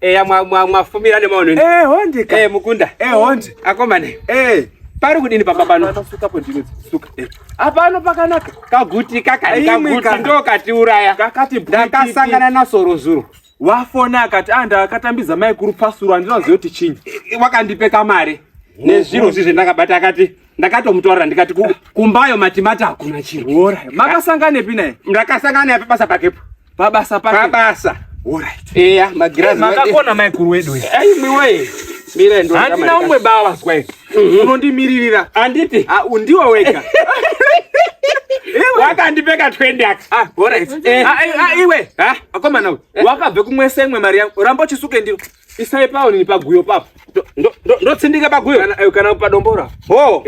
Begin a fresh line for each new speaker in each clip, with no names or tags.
eya
mwafumira nemaono eh honde ka eh mukunda
eh honde
akomane
eh
pari kudini pamba pano suka podini
suka eh apano
pakanaka kaguti kakati kaguti ndo katiuraya kakati ndakasangana
na
soro zuro wafona akati
ah ndakatambiza mai kuru pasuru andinoziva kuti chinyi wakandipeka mari
nezviro zvizvi ndakabata akati ndakatomutorera ndikati kumbayo matimati hakuna chinhu makasanganepi
naye ndakasangana naye pabasa
pakepo pabasa pake
pabasa
eya
magirazi makakona
maikuru wedu
aimiwee
handina umwe bava zwae
mhm. unondimiririra anditi ah,
undiwe wega wakandipeka twendi aka ah, eh. ah,
eh, iwe akomana wakabve kumwese imwe mari yangu ramba uchisuke ndiro isai pawo nini paguyo papo ndotsindike
paguyo eh, kana padombora
ho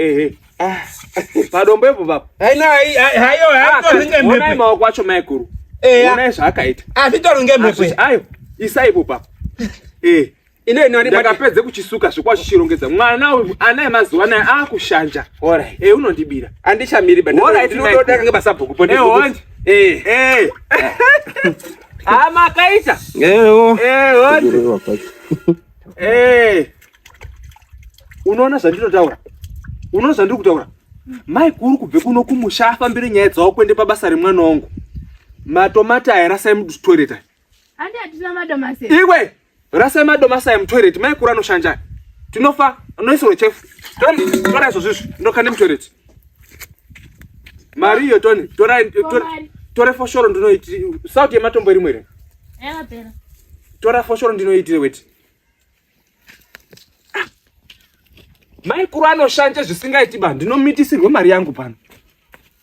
ah. padombo ipo papo
haionai
maoko acho maikuru onai zvaakaita ayo
isai ipo
papo
ndakapedze kuchisuka
zvikuwa chichirongedza mwana uyu ana emazuva anaya akushanja eh, unondibira andichamiri
basa
bhuku Ah, makaita. Eh, oh. Eh, oh. Eh. Unoona zvandinotaura? Unoona zvandiri kutaura? Mai kuri kubve kuno kumusha afambire nyaya dzawo kuende pabasa remwana wangu. Matomati aya rasai mutoilet. Handi atina
madomasi. Iwe
Rasai madomasi aya mutoilet maikura anoshanja. Tinofa anoisirwa chefu. Tony tora izvo zvizvi ndokande mutoilet. Mari iyo Tony tora tora tora foshoro ndinoiti sauti yematombo iri mwere. Yakapera.
Tora
foshoro ndinoitire weti. maikuru anoshanja zvisingaiti ba ndinomitisirwe mari yangu pano